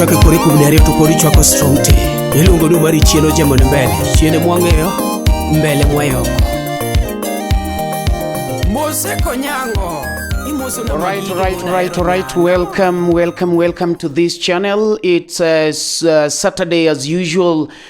chake kori kuom ne ariyo to kori chwako strong te iluongo ni mari chien ojemo ni mbele chiene mwang'eyo mbele mwayoko mose konyango All right, all right, all right, all right. Welcome, welcome, welcome to this channel. It's uh, uh, Saturday as usual.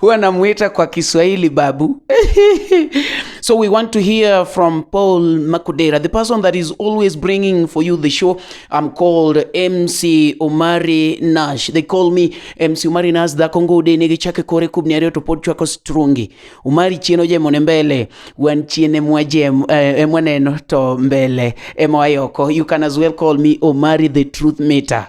huwa namuita kwa Kiswahili babu. so we want to hear from Paul Makudera, the person that is always bringing for you the show. I'm called MC Omari Nash. They call me MC Omari Nash da Kongo de nigi chake kore kubni ario to pod chwako strungi. Omari chieno je mone mbele, wan chiene mwaje eh, eh, mwaneno to mbele. Emo ayoko. You can as well call me Omari the truth meter.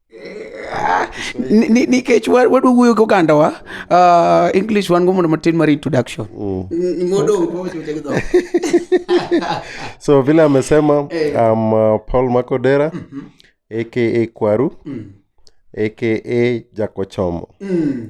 nikech wadwa wuoyo gi ogandawa uh, english wan go mondo matin mar introduction mm. so vile amesema eh. am uh, paul makodera mm-hmm. aka kwaru mm. aka jakochomo mm.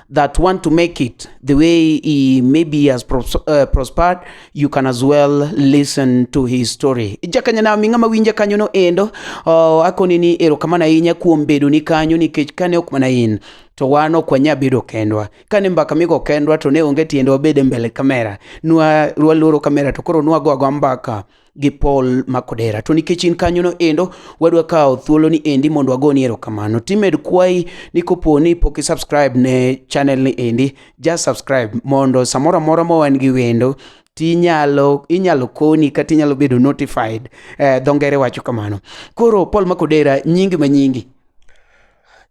that want to make it the way he maybe has pros uh, prospered you can as well listen to his story jakanya na mingama winja kanyo no endo uh, akoni ni erokamana inya kuom bedo ni kanyo nikech kane ok mana in to wan ok wanya bedo kendwa kane mbaka migo kendwa to ne onge tiende wabede mbele kamera nwa rwaloro kamera to koro nwago ago mbaka gi Paul Makodera. To nikech in kanyono endo, wadwa kawo thuolo ni endi mondo wagoni erokamano. Timed kwayi ni kopo ni pok isubscribe ne channel ni endi, just subscribe mondo samoro amora ma wan gi wendo tinyalo inyalo koni kata inyalo bedo notified eh, dho ngere wacho kamano koro paul makodera nyingi ma nyingi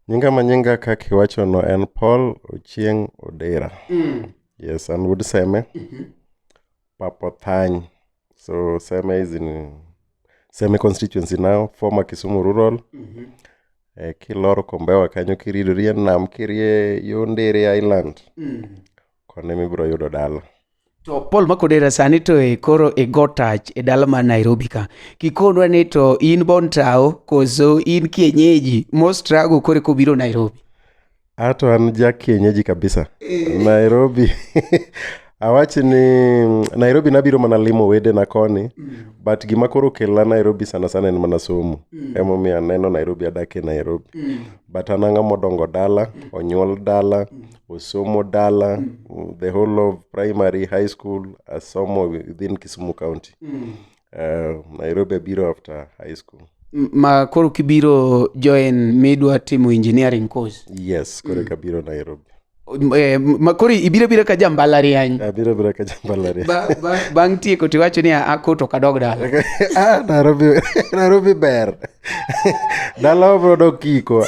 nyinga ma nyinga kaka iwachono en paul ochieng odera mm. yes an wuod seme mm -hmm. Papothany. So Seme is in Seme constituency now, former Kisumu rural. Mm-hmm. Eh, kiloro kombewa kanyo kiridori e nam kirie yo Ndere Island. Mm. Kone mibiro yudo dala. To Paul Makodera sani to e koro e go touch e dala ma Nairobi ka. Kikonwa ni to in bon tao koso in kienyeji mo struggle kore kobiro Nairobi. Ato an ja kienyeji kabisa. Eh. Nairobi. Awachi ni Nairobi nabiro mana limo wedena koni mm. but gima koro kela Nairobi sana sana en mana somo mm. emomiyo aneno Nairobi adake Nairobi mm. but an ang'ama odongo dala mm. onyuol dala mm. osomo dala mm. the whole of primary high school asomo within Kisumu County mm. Uh, Nairobi abiro after high school. M- Ma koro kibiro join midwa timo engineering course. Yes, koro mm. kabiro Nairobi. Eh, ma koro ibiro biro ka jambalariany. Abiro biro ka jambalariany. Ba, ba, bang' tieko to iwacho ni ako to kadog dala. ah, Nairobi, Nairobi ber. Dala obro dok kiko.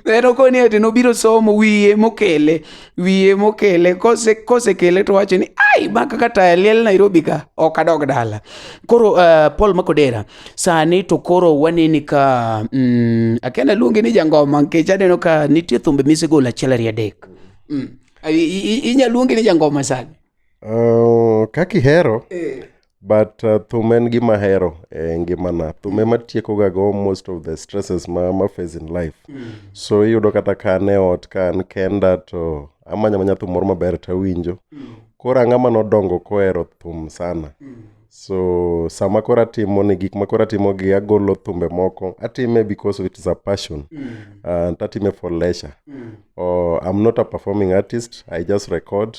en okoni ete nobiro somo wiye mokele wiye mokele kose kosekele to wacho ni ai ma kaka taya liel nairobi ka ok adog dala koro uh, paul makodera sani to koro waneni ka mm, akena luongi ni jangoma nikech aneno ka nitie thumbe misegolo achiel ariyo adek mm. I- i- i- inyaluongi ni jangoma sani Uh, kaka ihero Eh, but uh, thum en gima hero e ngimana thum ema tiekoga go most of the stresses ma, ma face in life mm. so iyudo kata ka an e ot ka an kenda to amanya manya thum moro maber to awinjo mm. koro ang'ama nodongo kohero thum sana mm. so sama koro atimo ni gik ma koro atimo gi agolo thumbe moko atime because of it is a passion mm. and uh, atime for leisure mm. oh, i'm not a performing artist i just record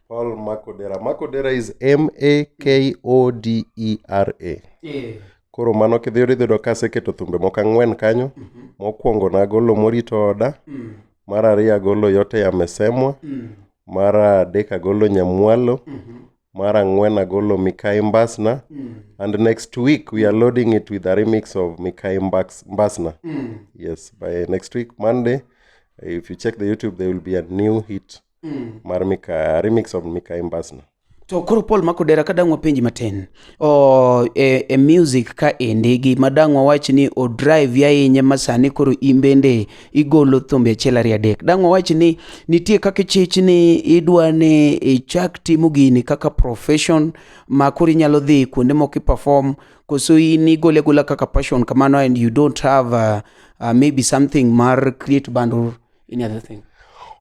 Paul Makodera. Makodera is M A K O D E R A. Eh. Koro mano kidhi idhi yudo ka aseketo thumbe moko ang'wen kanyo. Mhm. Mokwongo nagolo morito oda, Mm. mar ariyo agolo yote yamesemwa, Mm. mar adek agolo nyamwalo, Mhm. mar ang'wen agolo Mikai Mbasna. Mm. And next week we are loading it with a remix of Mikai Mbax- Mbasna. Mm. Yes, by next week Monday, if you check the YouTube, there will be a new hit mm. mar mika remix of mika embasna to koro paul makodera ka dang' wapenji matin o, e, e music ka endi gi ma dang' wawach ni o drive ya inye ma sani koro in bende igolo thumbe achiel ariyo adek dang' wawach ni nitie kaka ichich ni idwa ni ichak timo gini kaka profession ma koro inyalo dhi kuonde moko iperform koso in igole agola kaka passion kamano and you don't have uh, uh, maybe something mar create band or any other thing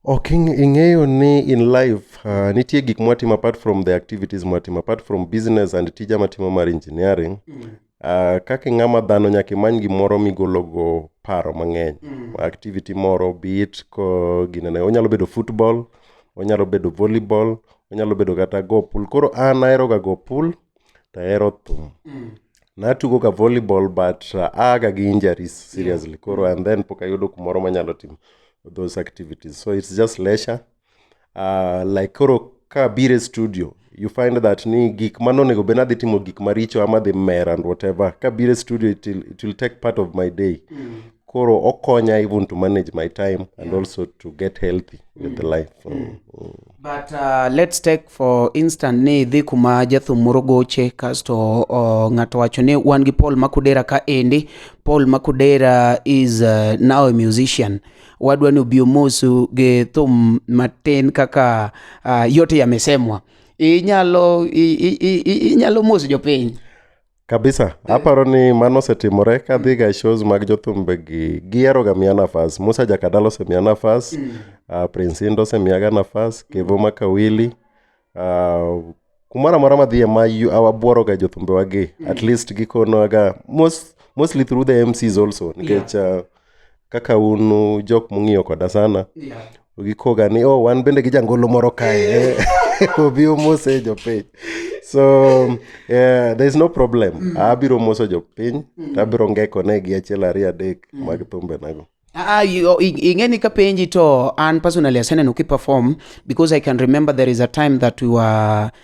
ok ing- ing'eyo ni in life uh, nitie gik mwatimo apart from the activities mwatimo apart from business and tija matimo mar engineering uh, kaka ing'ama dhano nyaka imany gimoro migologo paro mang'eny activity moro bit ko ginene onyalo bedo football onyalo bedo volleyball onyalo bedo kata go pool koro an aheroga go pool tahero thum natugo ga volleyball but uh, aaga gi injuries seriously yeah. koro and then pok ayudo kumoro manyalo timo those activities so it's just leisure uh, like koro ka bire studio you find that ni gik mano onego bed nadhi timo gik maricho ama dhi mer and whatever ka bire studio it will, it will take part of my day mm. koro okonya even to manage my time and also to get healthy with the life mm. Mm. mm. but uh, let's take for instant ni idhi kuma jathum moro goche kasto uh, ng'ato wacho ni wan gi paul makudera ka endi paul makudera is uh, now a musician wadwa ni obi omosu gi thum matin kaka uh, yote yamesemwa inyalo inyalo moso jopiny kabisa aparo ni mano osetimore kadhi ga shows mag jothumbe gi gihero ga miya nafas musa jakadala osemiya nafas mm. uh, prince indo osemiyaga nafas kevo makawili uh, kumoro amora madhiye ma awabuoro ga jothumbe wagi mm. at least gikonoga most, mostly through the mcs also nikech yeah. uh, kaka un uh, jok mong'iyo koda sana gikoga ni oh wan bende gi jangolo moro kae obi omose jopiny so yeah, there is no problem mm. abiro moso jopiny mm. tabiro ngekone gi achiel ariyo adek mm. mag thumbenago Ah, ah ingeni kapenji to an personally aseneno ki perform because i can remember there is a time that we were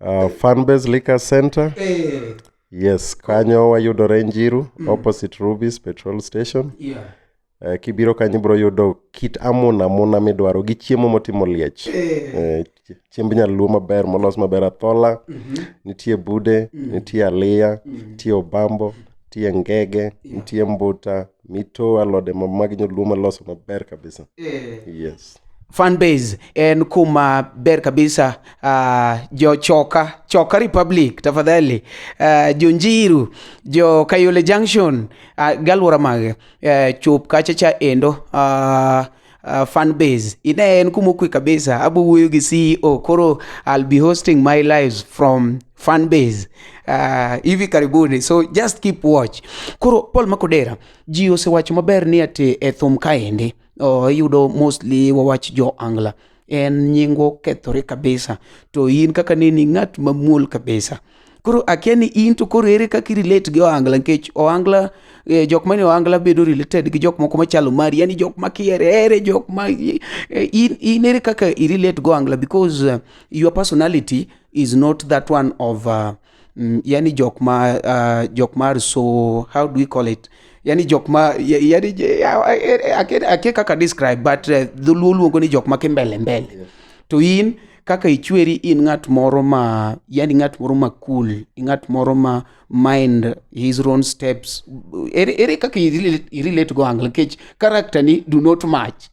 Uh, Fanbase Liquor Center. Eh, Yes, kanyo wayudore Njiru opposite Ruby's petrol station. yeah. Eh, kibiro kanyo ibiro yudo kit amuna amuna midwaro gi chiemo motimo liech. Eh, Eh, ch- chiemb nyaluo maber molos maber athola, nitie bude, nitie aliya, nitie obambo, nitie ngege, nitie mbuta, mito alode ma mag nyaluo maloso maber kabisa eh. yes fanbase en kuma ber kabisa uh, jo choka choka republic tafadhali uh, jo njiru jo kayole junction uh, galwora mage uh, chup kacha cha endo uh, uh, fan base ine en kuma okwe kabisa abo wuoyo gi ceo koro i'll be hosting my lives from fan base uh, hivi karibuni so just keep watch koro paul makodera ji osewacho maber ni ati e thum kaendi oh, iyudo mostly wawach jo angla en nyingwa okethore kabisa to in kaka neni ng'at mamuol kabisa koro akia ni in to koro ere kaka irelate gi ohangla nikech ohangla eh, jok mane ohangla bedo related gi jok moko machalo mari yani jok makiere ere jok ma eh, in, in ere kaka irelate gi ohangla because uh, your personality is not that one of uh, mm, yani jok ma uh, jok mar so how do we call it yani jok ma yani ake kaka describe but uh, dholuo luongo ni jok ma kimbele mbele yeah. to in kaka ichweri in ng'at moro ma yani ng'at moro ma cool ng'at moro ma mind his own steps ere, ere kaka irelate go angle nikech character ni do not match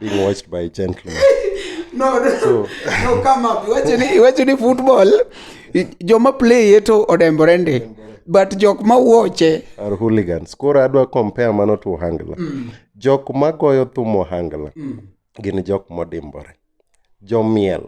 being watched by gentlemen no, no, so, no come up iwacho ni iwacho ni football joma play to odembore ndi but jok ma wuoche are hooligans koro adwa compare mano to ohangla mm. jok ma goyo thum ohangla mm. gin jok modimbore jomiel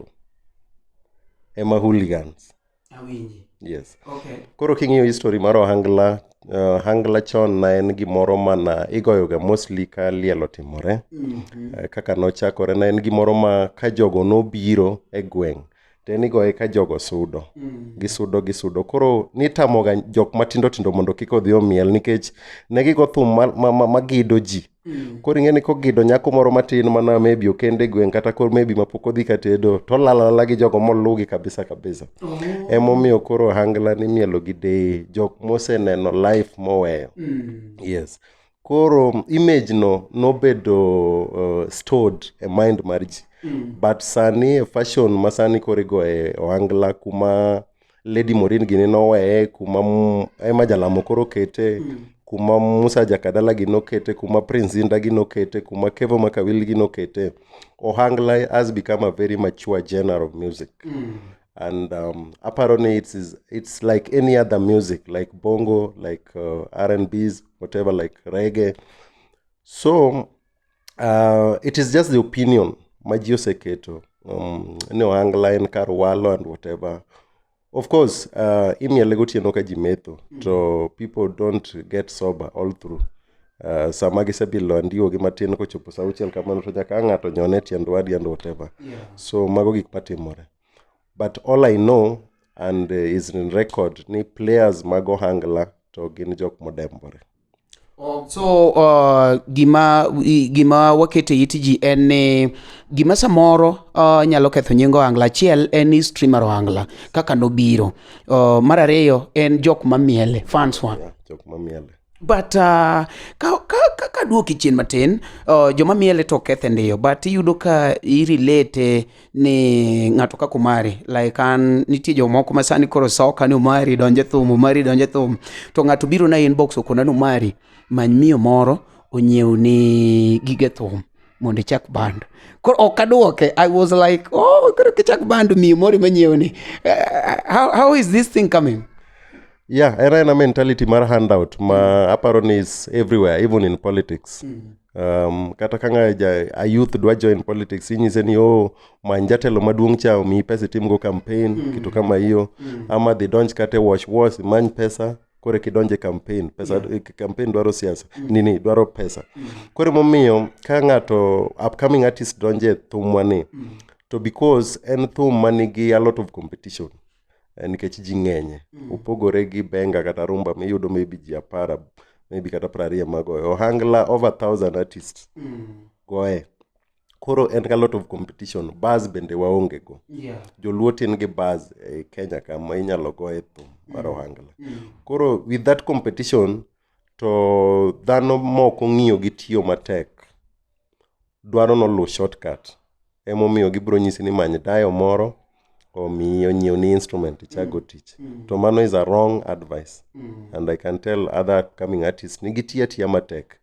ema hooligans Awinji. Yes. Okay. Koro king'iyo history mar ohangla, uh, ohangla chon na en gimoro mana igoyoga mostly ka liel otimore. Mm -hmm. uh, kaka nochakore na en gimoro ma ka jogo nobiro e gweng' to en igoye ka jogo sudo. Mm. Gisudo gisudo. Koro nitamoga jok matindo tindo mondo kik odhi omiel nikech ne gigo thum magido ma, ma, ma ji. Mm. Koro ing'e ni kogido nyako moro matin mana maybe okende e gweng' kata koro maybe mapok odhi katedo to olalala gi jogo moluwgi kabisa kabisa. Oh. Emomiyo koro ohangla ni mielo gi deye jok moseneno life moweyo. Mm. Yes. Koro image no nobedo uh, stored e mind mar ji. Mm. But sani e fashion ma sani koro igoye ohangla kuma Lady Morin gini noweye kuma m- ema jalamo koro okete kuma Musa Jakadala gi nokete kuma Prince Zinda gi nokete kuma Kevo Makawil gi nokete Ohangla has become a very mature genre of music and um, aparo ni it's, is- it's like any other music like bongo like uh, R&Bs whatever like reggae so uh, it is just the opinion ma ji oseketo um, ni ohangla en kar walo and whatever of course uh, imiele gotieno ka ji metho to people don't get sober all through Uh, sama gisebilo andiwogi matin kochopo sa auchiel kamano to nyaka ng'ato nyone tiend wadi and whatever yeah. so mago gik matimore but all i know and uh, is in record ni players mag ohangla to gin jok modembore So uh, gima gima waketo e it ji en ni gima samoro uh, nyalo ketho nying ohangla achiel en ni streamer ohangla kaka nobiro. Uh, mar ariyo en jok mamiele fans wa. Yeah, jok mamiele. But uh, ka, ka, ka, ka duoki chien matin uh, joma miele to kethe ndiyo but iyudo ka irelate ni ng'ato kaka Omari like an nitie jomoko ma sani koro soka ni Omari donje thum Omari donje thum to ng'ato biro na inbox okona ni Omari many miyo moro onyiew ni gige thum mondo ichak band koro ok adwoke I was like oh koro kichak band miyo moro manyiew ni Eh, how, how is this thing coming yeah era ena mentality mar handout ma aparo ni is everywhere even in politics Um, kata ka ng'aja a youth dwa join politics inyise ni oh many jatelo maduong' cha omiyi pesa itimgo campaign mm. kitu kama hiyo mm. ama dhi donj kata e wash wash imany pesa koro kidonjo e campaign pesa yeah. Mm. campaign dwaro siasa mm. nini dwaro pesa mm. koro emomiyo ka ng'ato upcoming artist donjo e thumwa ni mm. to because en thum manigi a lot of competition eh, nikech ji ng'enye mm. opogore gi benga kata rumba miyudo maybe ji apara maybe kata prariyo magoye ohangla over thousand artist mm. goye koro en ga lot of competition bas bende waonge go yeah. joluo tin gi bas e kenya kama inyalo goye thum mar mm. ohangla mm. koro with that competition to dhano moko ng'iyo gi tiyo matek dwaro noluw shortcut emomiyo gibiro nyisi ni many dayo moro omiyi onyiew ni instrument ichak go tich to mano is a wrong advice and i can tell other coming artists ni gitiyo atiya matek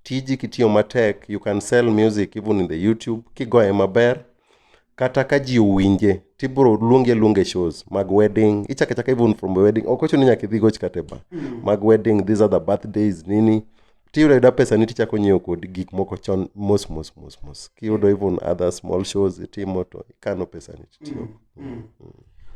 tiji kitiyo matek you can sell music even in the youtube kigoye maber kata ka ji owinje to ibiro luongi aluonga e shows mag wedding ichako achaka even from a wedding ok ochuno ni nyaka idhi goch kata e bar mag wedding these are the birthdays nini tiyudo ayuda pesa ni tichako nyiewo kod gik moko chon mos mos mos mos kiyudo even other small shows itimo to ikano pesa ni titiyo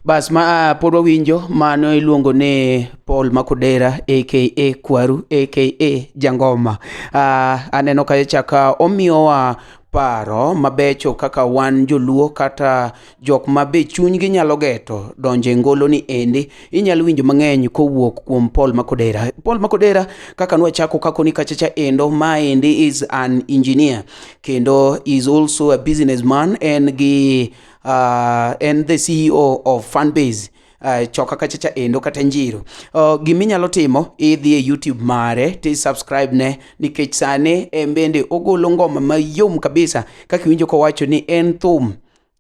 Bas ma ah, pod wawinjo mano iluongo ni Paul Makodera aka Kwaru aka Jangoma. Ah, aneno ka chaka omiyowa paro mabecho kaka wan joluo kata jok ma be chunygi nyalo geto donjo e ngolo ni endi inyalo winjo mang'eny kowuok kuom Paul Makodera. Paul Makodera kaka nwachako kako ni kachacha endo ma endi is an engineer kendo is also a businessman en gi uh, en the ceo of fanbase Uh, choka kacha cha endo kata njiro uh, gima inyalo timo idhi e youtube mare ti subscribe ne nikech sani en bende ogolo ngoma mayom kabisa kaka iwinjo kowacho ni en thum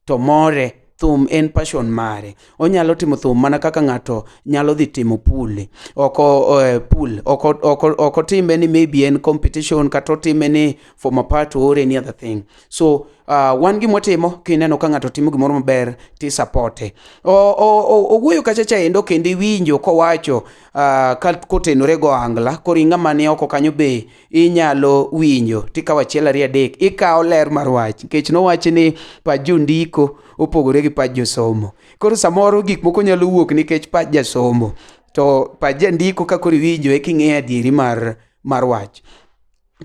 to more thum en passion mare onyalo timo thum mana kaka ng'ato nyalo dhi timo pule oko uh, eh, pul oko oko oko time ni maybe en competition kata otime ni for my part or any other thing so uh, wan gi motimo kineno ka ng'ato timo gimoro maber tisapote owuoyo kacha cha endo kendo iwinjo kowacho uh, ka kotenore go angla koro ing'ama ni oko kanyo be inyalo winjo tikawo achiel ariyo adek ikawo ler mar wach nikech nowachi ni pach jondiko opogore gi pach josomo koro samoro gik moko nyalo wuok nikech pach jasomo to pach jandiko ka koro iwinjo e king'eyo adieri mar, mar wach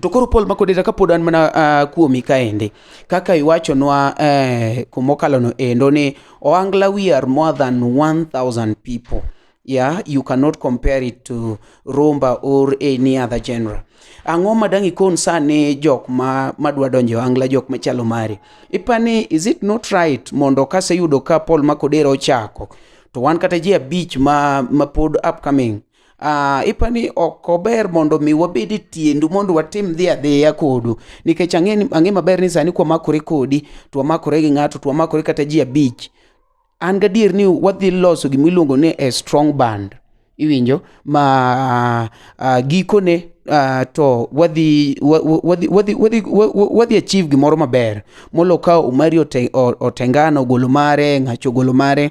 To koro Paul Makodeta kapod an mana uh, kuomi kaendi kaka iwachonwa uh, eh, kumokalono endo ni Oangla we are more than 1000 people yeah you cannot compare it to rumba or any other genre ang'o ma dang' ikon sani jok ma madwa donjo angla jok machalo mari ipani is it not right mondo kaseyudo ka Paul Makodera ochako to wan kata ji abich ma, ma pod upcoming Uh, ipa ni ok ober mondo mi wabed e tiendu mondo watim dhi adhiya kodu nikech ang'e maber ni sani kwamakore kodi to wamakore gi ng'ato to wamakore kata ji abich an gadier ni wadhi loso gima iluongo ni a strong band iwinjo ma uh, uh, gikone uh, to wadhi wadhi wadhi wadhi wadhi achieve gimoro maber molo ka umari otengano ogolo mare ng'acho ogolo mare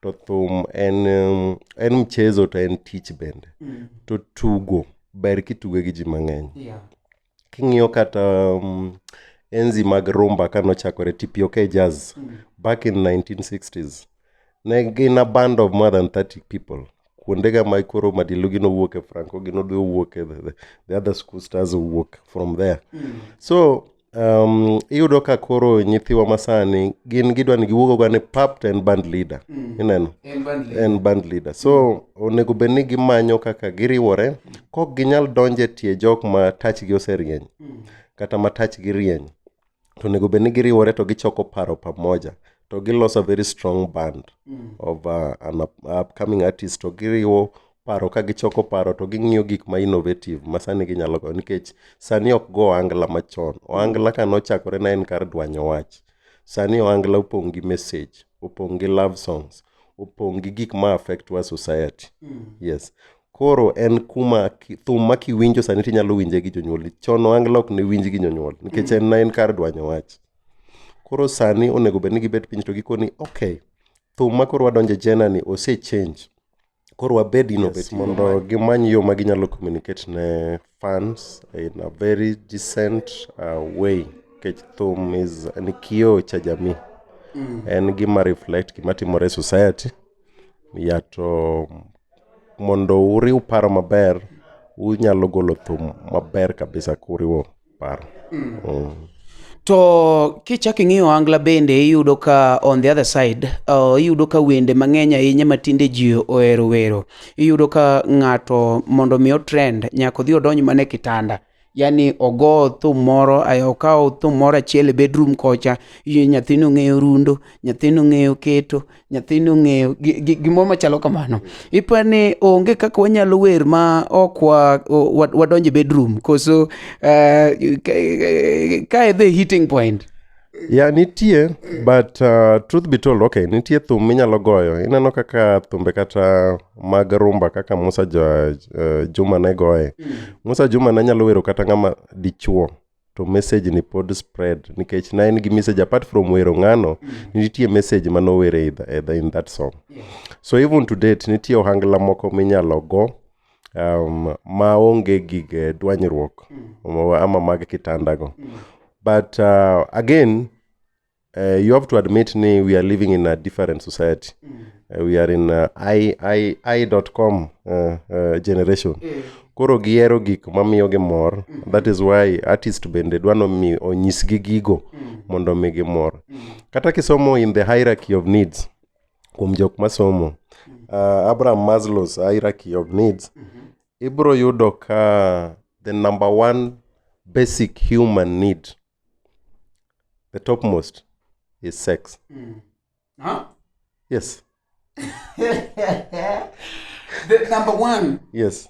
to thum en um, en mchezo to en tich bende Mm. to tugo ber kituge gi ji mang'eny Yeah. king'iyo kata um, enzi mag rumba ka nochakore tpok jazz Mm. back in 1960s ne gin a band of more than 30 people kuondega ma koro madilugi nowuok e franco gi nodhi owuok e the, the, the other school stars owuok from there Mm. so um, iyudo ka koro nyithiwa masani gin gidwa ni giwuog ogane pap to en band leader mm. ineno en band leader so onego bed ni gimanyo kaka giriwore kok ginyal donje tie jok ma tachgi oserieny mm. kata ma tachgi rieny to onego bed ni giriwore to gichoko paro pamoja to giloso a very strong band mm. of uh, an up, upcoming artist to giriwo paro ka gichoko paro to ging'iyo gik ma innovative ma sani ginyalo go nikech sani ok go ohangla machon ohangla ka nochakore na en kar dwanyo wach sani ohangla opong' gi message opong' gi love songs opong' gi gik ma affect wa society mm. yes koro en kuma thum ma kiwinjo sani tinyalo winje gi jonyuol chon ohangla ok ne winj gi jonyuol nikech mm. en na en kar dwanyo wach Koro sani onego bed ni gibet piny to gikoni okay, thum ma koro wadonjo e jena ni ose change. Koro wabed innovative mondo gimany yo ma ginyalo communicate ne fans in a very decent uh, way. Nikech thum is ni kioo cha jamii. En gima reflect gima timore e society. Ya to mondo uriw paro maber, unyalo golo thum maber kabisa kuriwo paro mm. Mm. To kichak ing'iyo angla bende iyudo ka on the other side uh, iyudo ka wende mang'eny ahinya ma tinde ji ohero wero. Iyudo ka ng'ato mondo mi otrend nyaka odhi odonj mana e kitanda. Yaani ogo thum moro, okaw thum moro achiel e bedroom kocha, nyathino ng'eyo rundo, nyathino ng'eyo keto, nyathini ong'eyo gimoro machalo kamano ipa ni onge kaka wanyalo wer ma ok wadonje bedroom koso eh, ka e the hitting point ya nitie but uh, truth be told okay nitie thum minyalo goyo ineno kaka thumbe kata mag rumba kaka musa uh, juma ne goye mm. musa juma ne nyalo wero kata ng'ama dichuo to message ni pod spread nikech na en gi message apart from wero ng'ano mm. nitie message ma nowere e the, in that song yeah. so even to date nitie ohangla moko minyalo go um, ma onge gig eh, dwanyruok mm. ama mag kitandago mm. but uh, again Uh, you have to admit ni we are living in a different society uh, we are in uh, i, I, I dot com uh, uh, generation koro gihero gik mamiyogi mor that is why artist bende dwano mi onyisgi gigo mondo omigi mor kata kisomo in the hierarchy of needs kuom jok masomo uh, abraham maslow's hierarchy of needs ibro yudo ka the number one basic human need the topmost is sex mm. huh? yes the number one yes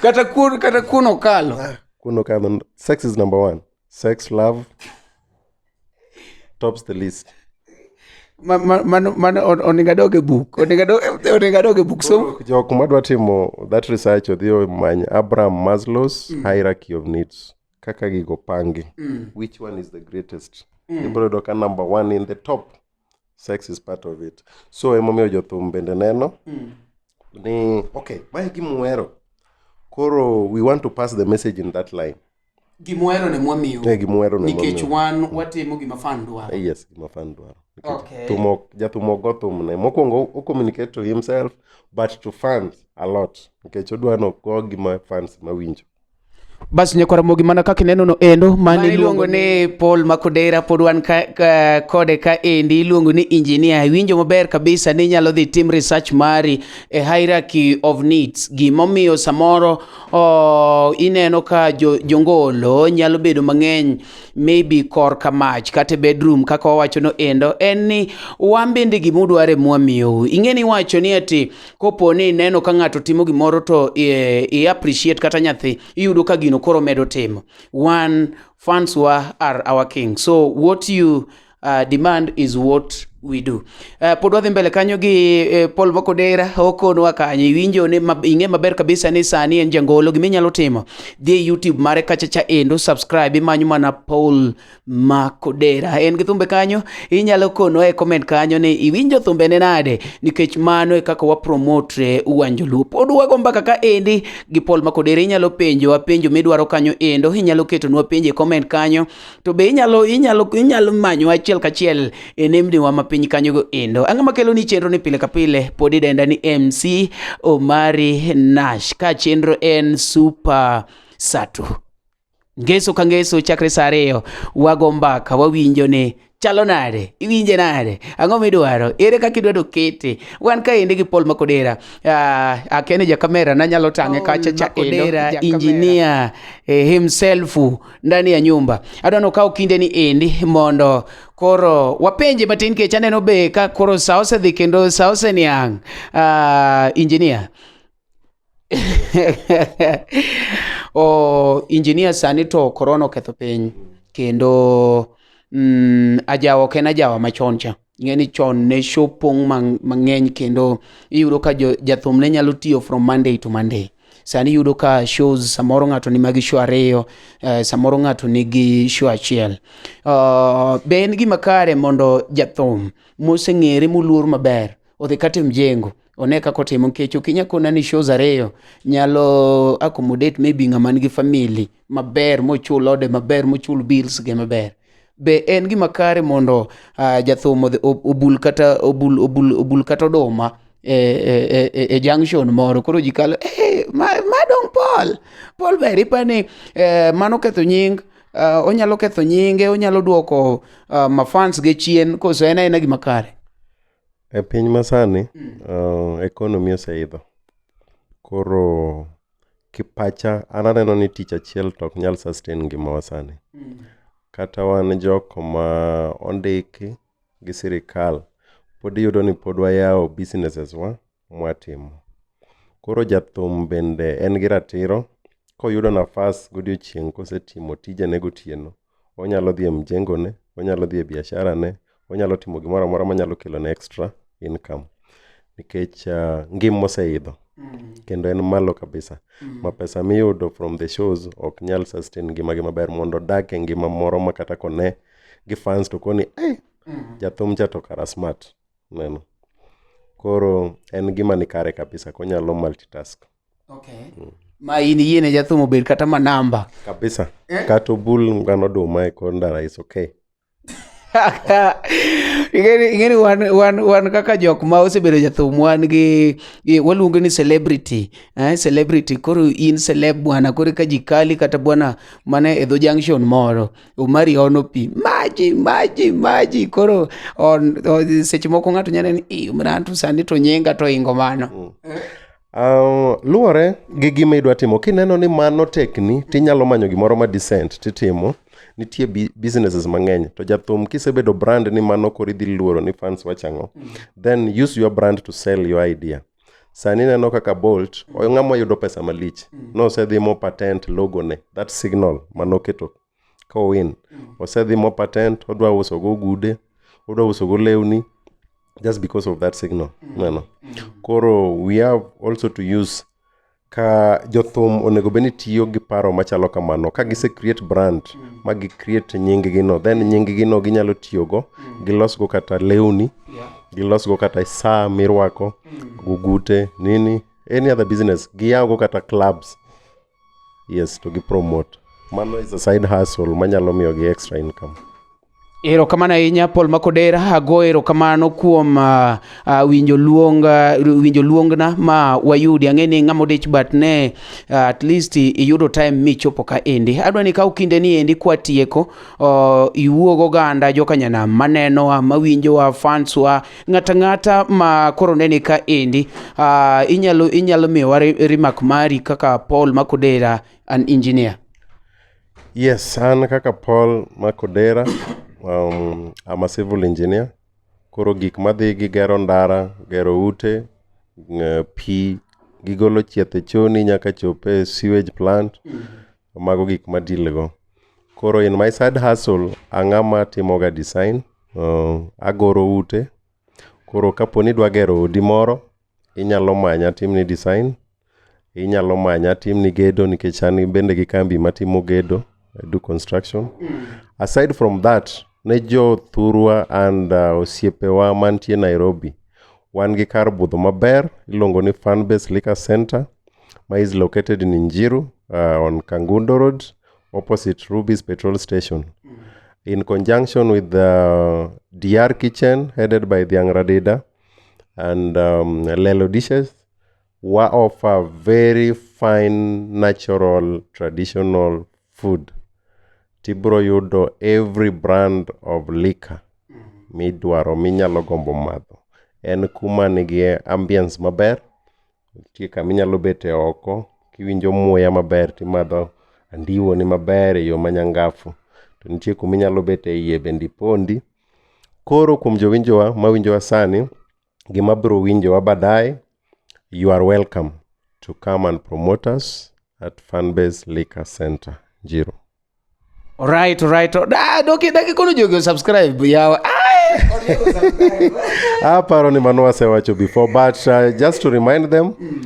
kata kun kata kuno kalo kuno kalo sex is number one sex love tops the list mano onego adog e buk onego adog e buk so jok madwa timo that research odhi omany abraham maslows mm. hierarchy of needs kaka gigo pangi mm. which one is the greatest mm. ibro yudo ka number one in the top sex is part of it so emomiyo jothum bende neno mm. ni okay mae gimuhero koro we want to pass the message in that line gimwero ne mwamiyo eh, gimwero ne nikech wan watimo gima fan dwaro eh, yes gima fan dwaro okay. tumo jatumo go thumne mokwongo o communicate to himself but to fans a lot nikech odwa no go gima fans mawinjo bas nyakwara mogi mana kaka ineno no endo mane iluongo ni Paul Makodera pod wan ka, ka, kode ka endi iluongo ni engineer iwinjo maber kabisa ni inyalo dhi tim research mari e hierarchy of needs gimomiyo samoro oh, ineno ka jo, jongolo nyalo bedo mang'eny maybe kor ka mach kata e bedroom kaka wawacho no endo en ni wan bende gima udwaro e mwamiyou ing'e ni wacho ni ati kopo ni ineno ka ng'ato timo gimoro to i, i appreciate kata nyathi iyudo ka gino koro medo timo wan fans wa are our king so what you uh, demand is what we do uh, pod wadhi mbele kanyo gi uh, Paul Mokodera okonwa kanyo iwinjo ni ma, ing'e maber kabisa ni sani en jangolo gima inyalo timo dhi e YouTube mare kacha cha endo subscribe imanyo mana Paul Makodera en gi thumbe kanyo inyalo kono e comment kanyo ni iwinjo thumbe ne nade nikech mano e kaka wa promote uwanjo luo pod wago mbaka ka endi gi Paul Makodera inyalo penjo penjo midwaro kanyo endo inyalo ketonwa penjo e comment kanyo to be inyalo inyalo inyalo manyo achiel kachiel e nembniwa ma piny kanyogo endo ang'o makelo ni chenro ni pile ka pile pod idenda ni mc omari nash ka chenro en super satu ngeso ka ngeso chakre saa ariyo wago mbaka wawinjo ni chalo nade iwinje nade ang'o midwaro ere kaka idwa dokete wan kaendi gi paul makodera uh, akene ja kamera nanyalo tang'e kacha cha kodera injinia eh, himself ndani ya nyumba adwa nokaw kinde ni endi mondo koro wapenje matin kech aneno be ka koro sa osedhi kendo sa oseniang' uh, injinia o oh, injinia sani to korona oketho piny kendo mm, ajawa ok en ajawa machon cha ing'e ni chon ne show pong' mang'eny kendo iyudo ka jathum ne nyalo tiyo from monday to monday sani yudo ka shows samoro ng'ato ni magi show ariyo eh, samoro ng'ato nigi show achiel uh, be en gima kare mondo jathum moseng'ere moluor maber odhi kata mjengo one kaka otimo nikech ok inya kona ni shows ariyo nyalo accommodate maybe ng'ama nigi family maber mochul ode maber mochul bills ge maber be en gima kare mondo uh, jathum odhi- ob- obul kata obul, obul, obul kata oduma e, e, e, e, e junction moro koro ji kalo hey, ma, ma dong paul paul ber ipani eh, mano ketho nying uh, onyalo ketho nyinge onyalo duoko uh, mafans ge chien koso en aena gima kare E piny masani, uh, economy oseidho. Koro kipacha an aneno ni tich achiel to ok nyal sustain ngimawa sani. Kata wan jok ma ondiki gi sirikal, pod iyudo ni pod wayawo businesses wa mwatimo. Koro jathum bende en gi ratiro koyudo nafas godiochieng' kosetimo tijene gotieno, onyalo dhi e mjengone, onyalo dhi e biasharane, onyalo timo gimoro amora manyalo kelone extra income nikech ah, ngima oseidho kendo en malo kabisa ma pesa miyudo from the shows ok nyal sustain ngimagi maber mondo odak e ngima moro ma kata kone gi fans to koni "Ai, jathum cha to kara smart Ineno? Koro en gima ni kare kabisa konyalo multitask. Okay. Mm. Ma in yiene jathum obed kata ma namba. Kabisa. Eh? Kata obul ngano duma e kor ndara is okay. ingeni wan, wan, wan kaka jok ma osebedo jathum wan gi waluongo ni celebrity eh, celebrity koro in celeb bwana koro ka ji kali kata bwana mana e dho junction moro Umari ono pi maji maji maji koro on, on, seche moko ng'ato nyalo ni "Ih, mrantu sani to nyenga to ingo mano Um, luwore gi gima idwa timo kineno ni mano tekni tinyalo manyo gimoro ma decent titimo nitie bi- businesses mang'eny to jathum kisebedo brand ni mano koro idhi luoro ni fans wachang'o then use your brand to sell your idea sani ineno kaka bolt oyo ng'ama oyudo pesa malich nosedhi mo patent logo ne that signal manoketo ka owin osedhi mo patent odwa uso go gude odwa uso go lewni just because of that signal neno koro we have also to use ka jothum onego bed ni tiyo gi paro machalo kamano ka gise create brand ma gi create nying gi no then nying gi no ginyalo tiyo go gilos go kata lewni gilos go kata saa mirwako gugute nini any other business giyaw go kata clubs yes to gi promote mano is a side hustle manyalo miyo gi extra income Erokamano ahinya Paul Makodera, ago erokamano kuom uh, uh, winjo luong uh, winjo luongna ma wayudi. Ang'e ni ng'ama odich but ne uh, at least iyudo time michopo ka endi. Adwa ni kaw kinde ni endi kwa tieko uh, iwuog oganda joka nyanam manenowa, mawinjowa, fanswa, ng'ata ng'ata ma koro neni ka endi. Uh, inyalo inyalo miyowa remark mari kaka Paul Makodera an engineer. Yes, an kaka Paul Makodera, um, I'm a civil engineer. Koro gik madhi gi gero ndara, gero ute, ng- pi, gigolo chieth e choni nyaka chop e sewage plant, mago gik ma deal go. Koro in my side hustle, ang'ama timoga design, uh, agoro ute. Koro kapo ni idwa gero odi moro, Inyalo manya atimni design, inyalo manya atimni gedo nikech an bende gi kambi matimo gedo, I do construction. Aside from that, ne jo thurwa and uh, osiepewa mantie Nairobi, wan gi kar budho maber iluongo ni Fanbase Liquor Center ma is located in Njiru uh, on Kangundo Road opposite Ruby's petrol station. In conjunction with the DR Kitchen headed by Dhiang Radida, and um, Lelo dishes wa offer very fine natural traditional food tibro yudo every brand of liquor midwaro minyalo gombo madho en kuma nigi ambience maber nitie kama inyalo bete oko kiwinjo muya maber timadho andiwo ni maber e yo manyangafu to nitie kuma inyalo bete iye bende ipondi Koro kuom jowinjowa mawinjowa sani gi mabiro winjowa baadaye, you are welcome to come and promote us at Fanbase Liquor Center, Njiro. Alright, alright. Ah, doki daki kono jogi subscribe yawa. Ah! Aparo ni mano wasewacho before but uh, just to remind them mm.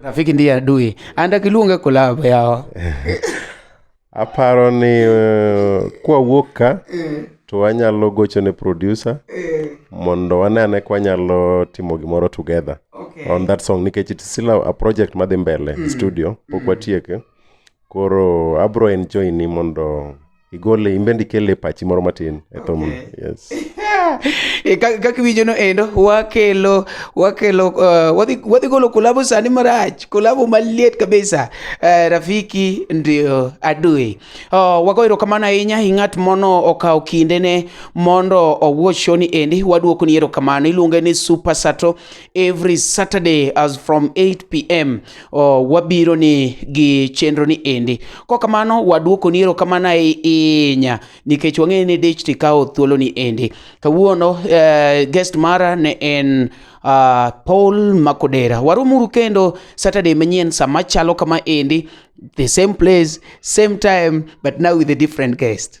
Rafiki ndiye adui. Anda kiluonge collab yawa. Aparo ni uh, kwa wuok ka eh. to wanyalo gocho ne producer eh. mondo wanene kwa nyalo timo gimoro together okay. on that song nikech it's still a, a project madhi mbele mm. studio pok mm. watieke Koro abro enjoy ni mondo igole imbende ikele pachi moro matin e thum okay. yes e, kaka iwinjo no endo wakelo wakelo uh, wadhi, wadhi golo kolabo sani marach kolabo maliet kabisa uh, rafiki ndio adui uh, wago erokamano ahinya i ng'at mono okawo kindene mondo owuo shoni endi waduoko ni erokamano iluonge ni super sato every Saturday as from 8 pm oh, wabiro ni gi chenro ni endi. Kwa kamano waduoko ni erokamano ahinya nikech wang'eyo ni dich tikawo thuolo ni endi. Kawuono uh, guest mara ne en uh, Paul Makodera. Warumuru kendo Saturday manyien sama chalo kama endi the same place, same time but now with a different guest.